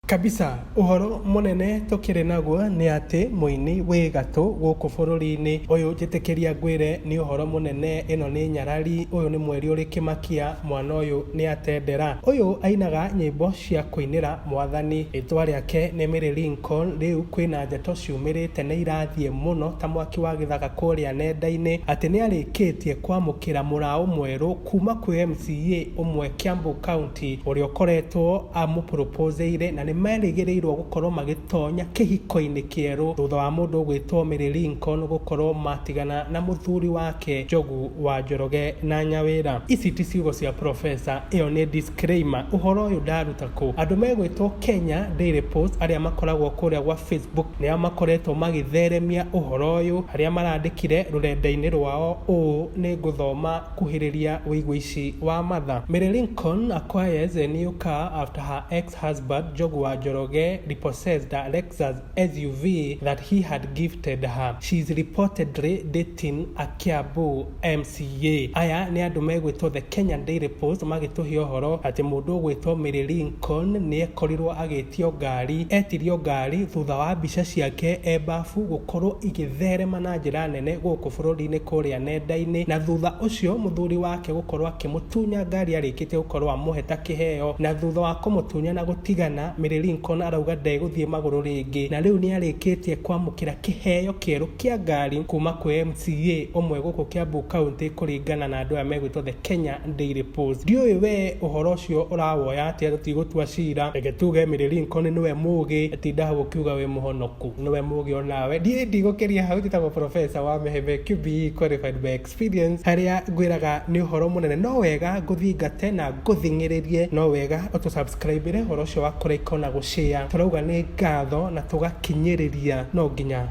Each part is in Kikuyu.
Kabisa. Ũhoro mũnene tũkĩrĩ naguo nĩ atĩ mũini wĩ gatũ gũkũ bũrũri-inĩ ũyũ njĩtĩkĩria ngwĩre nĩ ũhoro mũnene ĩno nĩ nyarari ũyũ nĩ mweri ũrĩ kĩmakia mwana ũyũ nĩ atendera. Ũyũ ainaga nyĩmbo cia kũinĩra mwathani. Rĩtwa rĩake nĩ Milly Lincoln rĩu kwĩna ndeto ciumĩrĩte nĩ irathiĩ mũno ta mwaki wa gĩthaka kũrĩa nenda-inĩ atĩ nĩ arĩkĩtie kwamũkĩra mũraũ mwerũ kuma kwĩ MCA ũmwe Kiambu County. Ti ũrĩa ũkoretwo amũpũrũpũzĩire na nĩ merĩgĩrĩirwo gũkorwo magĩtonya kĩhiko-inĩ kĩerũ thutha wa mũndũ ũgwĩtwo Mary Lincoln gũkorwo matigana na mũthuri wake Njogu wa Njoroge na Nyawĩra. Ici ti ciugo cia Profesa, ĩyo nĩ disclaimer. Ũhoro ũyũ ndaruta kũ? Andũ megwĩtwo Kenya Daily Post arĩa makoragwo kũrĩa gwa Facebook nĩo makoretwo magĩtheremia ũhoro ũyũ harĩa marandĩkire rũrenda-inĩ rwao ũũ, nĩ ngũthoma. Akuhĩrĩria wĩiguici wa matha. Mary Lincoln acquires a new car after her ex-husband Njogu wa Njoroge repossessed a Lexus SUV that he had gifted her. She is reportedly dating a Kiambu MCA. Aya nĩ andũ megwĩtwo The Kenyan Daily Post magĩtũhe ũhoro atĩ mũndũ ũgwĩtwo Mary Lincoln nĩekorirwo agĩtio ngari, etirio ngari thutha wa mbica ciake e mbafu gũkorwo igĩtherema na njĩra nene. mũnene gũkũ bũrũri-inĩ kũrĩa nenda-inĩ na thutha ũcio mũthuri wake gũkorwo akĩmũtunya ngari arĩkĩtie gũkorwo amũhe ta kĩheo na thutha wa kũmũtunya na gũtigana, Mary Lincoln arauga ndegũthiĩ magũrũ rĩngĩ na rĩu nĩarĩkĩtie kwamũkĩra kĩheo kĩerũ kĩa ngari kuma kwĩ MCA ũmwe gũkũ Kiambu County kũringana na andũ aya megwĩtwo The Kenya Daily Post. Ndiũĩ we ũhoro ũcio ũrawoya atĩa tũtigũtua cira, reke tuge Mary Lincoln nĩwe mũgĩ, tinda hau ũkiuga wĩ mũhonoku. nĩwe mũgĩ o nawe. Niĩ ndigũkĩria hau ndĩ ta mũprofesa wa Meheve QBE Qualified by Experience, harĩa ngwĩraga nĩ ũhoro mũnene no wega ngũthingate na ngũthing'ĩrĩrie, no wega ũtũ subscribe ĩre ũhoro ũcio wa kũ like o na gũ share. Tũrauga nĩ ngatho na tũgakinyĩrĩria no nginya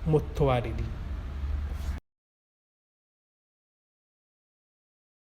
mũtwarĩri.